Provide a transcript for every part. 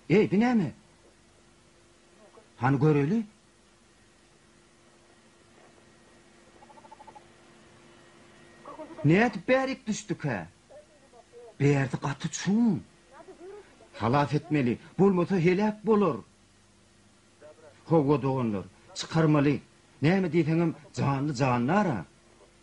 Eý, bu näme? Hany göreli? Nädip bärik düşdükä? Bärsi gaty çuň. Halas etmeli, bolmasa heläk bolar. Hawa, doganlar, çykarmaly. Näme diýseňem, janly-jandar-a.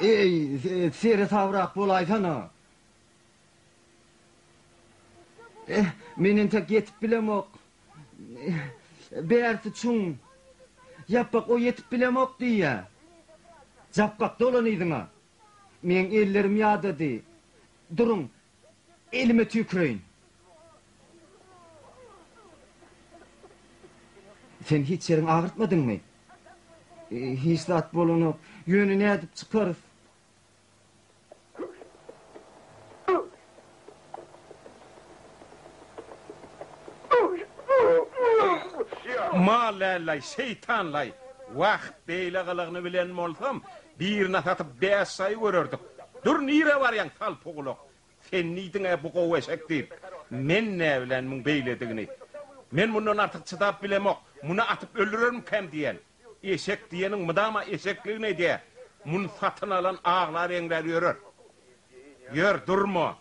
Eý, seresabrak bolaýsana! Eh, men entek ýetip bilemok. Bärsi çuň. Ýapbak o ýetip bilemok diýýä. Japbak, dolan yzyňa. Meň ellerim ýadady. Duruň, Elime tüýküreýin. Sen hiç ýeriňi agyrtmadyňmy? Hiç zat bolanok. Ýöne nädip çykarys? Mall-ä-laý, şeýtan-laý! Wah, beýle gylygyny bilen bolsam, Birine satyp bäş saýy görerdik. Dur nirä barýaň salpygulak. Sen diýdiň-ä bu gowy eşek diýip. Men näbilen muň beýledigini. Men mundan artyk çydap bilemok. Muny atyp öldürermikäm diýen. Eşek diýeniň mydama eşekligini edýär. Muny satyn alan aglap-eňräp ýörer. Ýör, durma.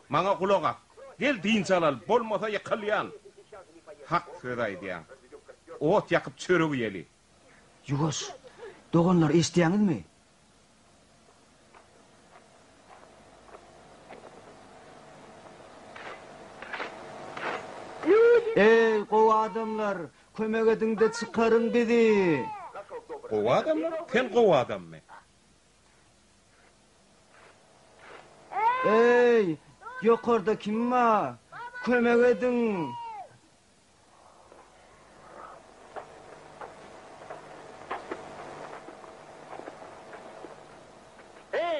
Maňa gulak as. Gel dynç alaly. Bolmasa ýykylýan. Hak söz aýdýaň. Ot ýakyp çörek iýeli. Ýuwaş, doganlar, eşitýäňizmi? Eý, gowy adamlar, kömek ediň-de çykaryň bizi! Gowy adamlar? Sen gowy adammy? Eý, ýokarda kim bar? Kömek ediň!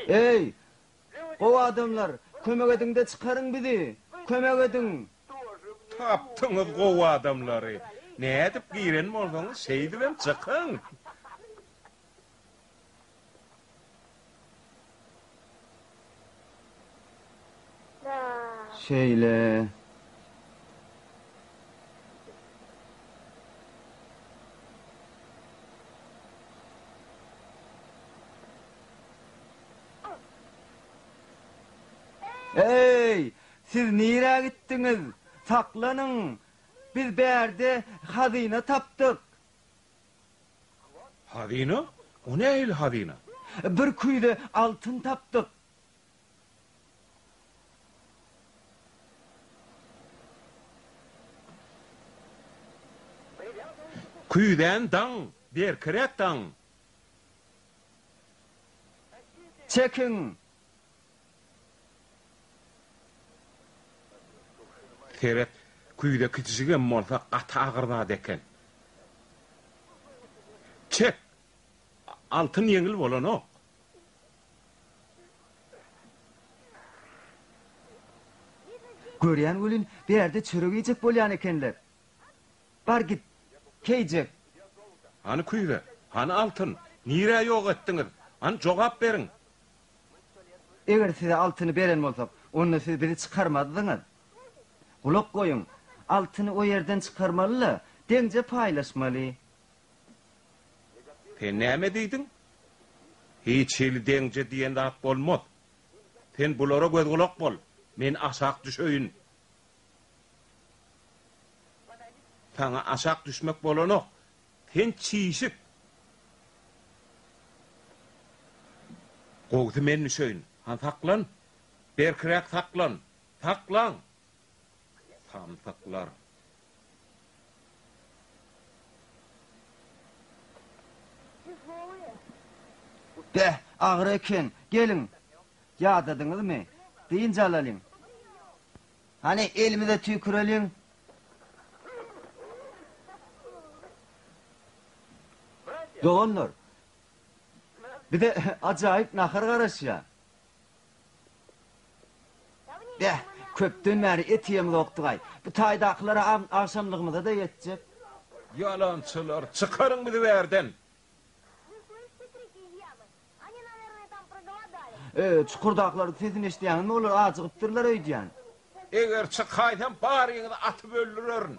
Eý, gowy adamlar, kömek ediň-de çykaryň bizi! Kömek ediň! Tapdyňyz gowy adamlary! Nädip giren bolsaňyz, şeýdibem çykyň! Şeýle. Eý, siz nirä gitdiňiz? Saklanyň! Biz bärde hazyna tapdyk! Hazyna? O nähili hazyna? Bir küýze altyn tapdyk. Küýzäni daň, berkiräk daň. Çekiň! Seret, küýze kiçijigem bolsa gaty agyr zat eken. Çek! Altyn ýeňil bolanok. Görýän welin, bärde çörek iýjek bolýan ekenler. Bar git, keýjek. Hany küýze, hany altyn? Nirä ýok etdiňiz? Hany jogap beriň! Eger size altyny beren bolsak, onda siz bizi çykarmazdyňyz. Gulak goýuň, altyny o ýerden çykarmaly-la, deňje paýlaşmaly. Sen näme diýdiň? Hiç hili deňje diýen zat bolmaz. Sen bulara göz-gulak bol, men aşak düşeýin. Saňa aşak düşmek bolanok, Sen çişik. Gowusy men düşeýin. Han saklan. Berkiräk saklan. Saklan! Samsyklar. Beh, agyr eken. Geliň. Ýadadyňyzmy? Dynç alalyň. Hany elimize tüýküreliň. Doganlar, bize ajaýyp nahar garaşýa. Beh, köpden bäri et iýemzokdygaý. Bu taýdakylara agşamlygymyza-da ýetjek. Ýalançylar, çykaryň bizi bu ýerden! Öý, çukurdakylaryň sesini eşidýäňizmi, olar ajygypdyrlar öýdýän. Eger çykaýsam, baryňyzy atyp öldürerin.